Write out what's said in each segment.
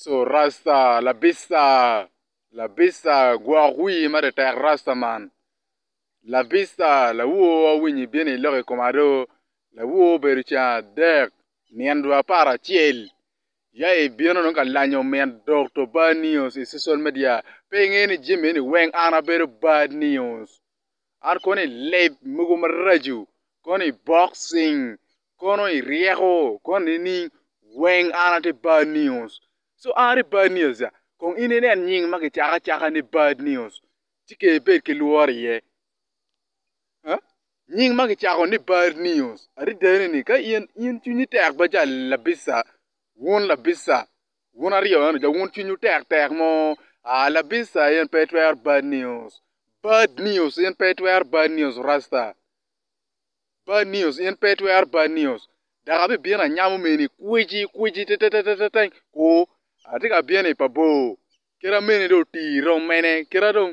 Su rasta labisa labisa gwok wii ma tetek rasta man labisa lawor awinyo ibino iloko i koma do lawor obedo ceng adek nyen dwe apar acel ya ibino dong ka lanyo min Dokto Bad News i social media pe inge ni jami eni weng an abedo Bad News. An kono i leb mogo maraco, kono i boxing, kono i ryeko, kono nining, weng an atye bad news. So an atye bad news ca, kong in inen nying ma kicako acaka ni bad news, ci kong ibed ki lworo iye. Huh? Nying ma kicako ni bad news adada ni ka in, in cwinyi tek bene ca labissa, wun labissa, Wun aryo eno ca wun cwinywu tek tek mo, ah labissa in pe itwero bad news, bad news in pe itwero bad news rasta, bad news in pe itwero bad news dok abibino anyamo mini kweci kweci teteteteng ku atye ka bino i pa bor kit amene dong otii dong mene kit adong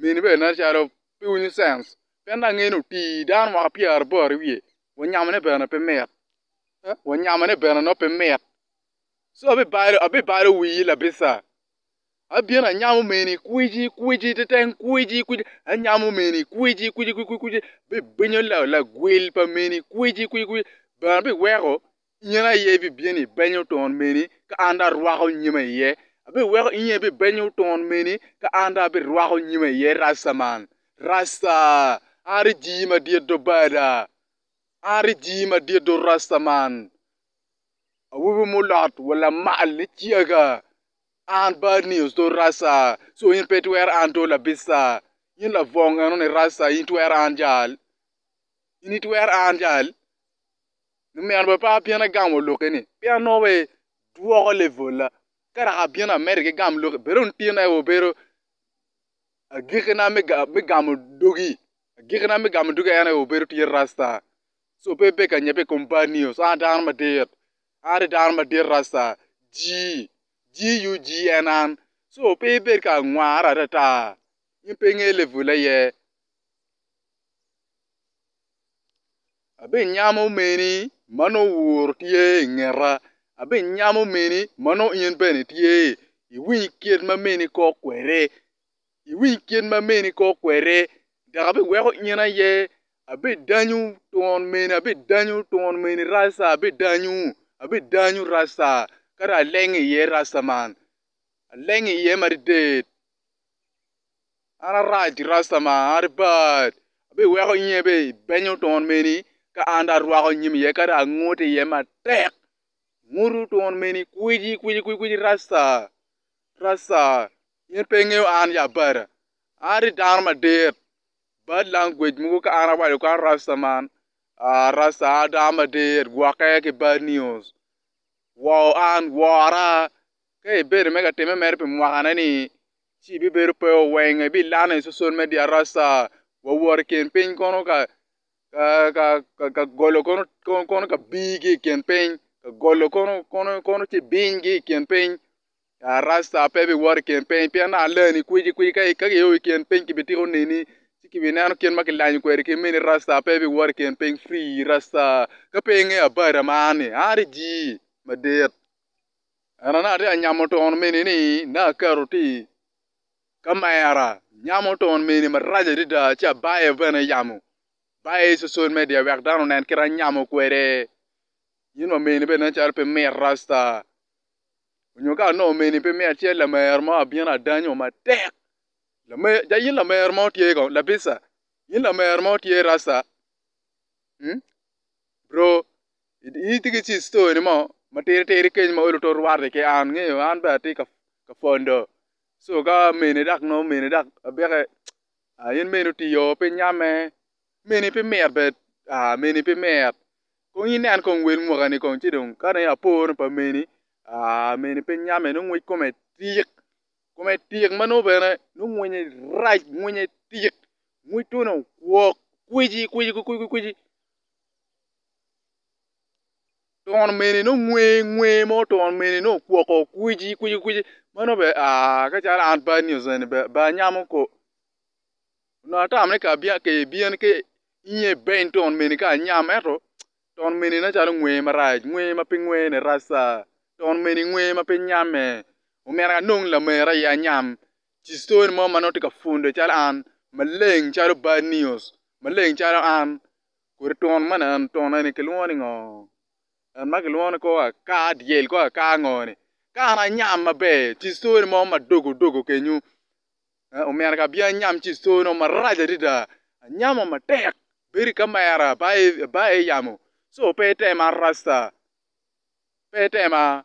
Mini bene nen calo pe winyo cens pien dong angeyo ni otii dano mwaka pyeraboro i wiye wa nyamone bene pe mit eh wa nyamone bene nongo pe mit ci abibalo abibalo wii labica abino anyamo mini kwici kwici teteng kwici kwici anyamo mini kwici kwici kwici bibinyo lagwel pa mini kwici kwici bene biweko Inyen aye ibibino ibenyo ton meni, ka an dong arwako nyima iye. Abiweko inyen ibibenyo ton meni, ka an dong abirwako nyima iye Rassa man. Rassa! An aye jii madit do bada! An aye jii madit do Rassa man! Awobi mulot wa lamal ni ciaga! An Bad News do Rassa! Co in pe itwero an do labissa! In labong eno ni Rassa in itwero an jal? In itwero an jal? Lumeno bene pe abino agamo lokke ni peya nongo wa idwoko level na ka dok abino America igam lokke bene dong tin aye wabedo agiki na me gamo dogi agiki na me gamo dogi en aye wabedo tye rasta so pe ibe ka nyepe i kom bad news an adano madit an adye dano madit rasta G G U G en an so pe ibed ka ngwarre ata ata in pe ingeyo level aye. Abinyamo meni ma nongo wur tye i ngeta, abinyamo meni ma nongo in bene itye. Iwiny kit ma meni kok kwede, iwiny kit ma meni kok kwede dok abiweko in aye. Abidanyu twon meni, abidanyu twon meni rac ca, abidanyu, abidanyu rac ca ka dong aleng iye rac ca man, aleng iye madidid. An arac ki rasta ma an aye bat, abiweko nyinge bene i beny otwon meni ka an dong arwako nyim iye ka dong angut iye matek, angut otwon meni kweci kweci kweci rasta rasta in pe ingeyo an ya bada, an aye dano madit bad langwej mogo ka an awaco kong ni rasta man aa rasta an aye dano madit gwokke ki bad news woo an wora ka ibedo me ka time mere pi mwaka ne ni ci ibibedo pe oweng ibilane i social media rasa wawot i kin piny kono ka ka golo kono ka bigi i kin piny ka golo kono ci binygi i kin piny ya rasta pe biwot i kin piny pien dong aleni kweci kweci ka kioyo i kin piny kibitiko neni ci kibineno kit ma kilanyo kwede kit meni rasta pe biwot i kin piny free rasta ka pe ingeyo abada man ni a ni jii madit. Ento naka atyeka nyamo twon mini ni naka aketo tye i kamera nyamo twon mini maraco adada ci abayo bene yamo abayo i social media wek dano onen kit ma anyamo kwede in wa mini bene nen calo pe mit rasta nyo ka nongo mini pe mit ci lamer mo abino adanyo matek lamer ja in lamer mo tye kong labisa in lamer mo tye rasta bro. Tye ki ci story ni mo ma tidi tidi keny ma olo to rwate ki an ngeyo an bene atye ka pwondo so ka mene dok nongo mene dok abike ah in mene oti oo pe inyamme mene pe mit bene ah mene pe mit kong inen kong wel mwaka ni kong ci dong ka dong aporo pa mene ah mene pe inyamme nongo ngec kome tik kome tik ma nongo bene nongo ngwinye rac ngwinye tik ngwec twene okwok kweci kweci kweci twon mene nongo ngwe ngwe mo twon mene nongo okwoko okwici kwici kwici meno be aah ka calo an bad ni ozeni be be anyamo ko onongo atamo ni ka abyen ka ebyen ka inge beny twon mene ka anyam ento twon mene nen calo ngwe marac ngwe ma pe ngwe ni rac ca twon mene ngwe ma pe nyame omyero anong lamera aye anyam ci cone mo ma nongo tye ka pwonde calo an maleng calo bad news maleng calo an Kodi twon ma nen twon eni kilwongo ni ngo? En ma kilwongo ni kor akar dyel kor akar ngo ni kare anyam maber ci stori mo madogo dogo kenyo omyero ka abin anyam ci stori mo marac adada anyamo matek bedo i kamera bayo i yamo so pe itema rasta pe itema.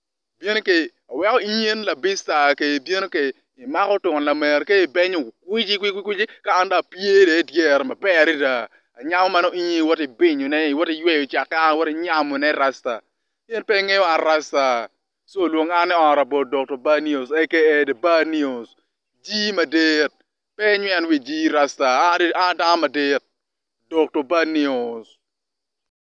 ibino ka iweko inyen labis tar ka ibino ka imako twon lamer ka ibenyo kwici kwici ka an dong apye dong i dyere maber adada anyamo ma nongo in aye iwoti binyone iwoti yweyo cakke an awoti nyamone rasta in pe ingeyo an rasta ci olwongo an i ot bot Dokto Banios aka The Bar News jii madit pe inyweno wi jii rasta an adano madit Dokto Banios.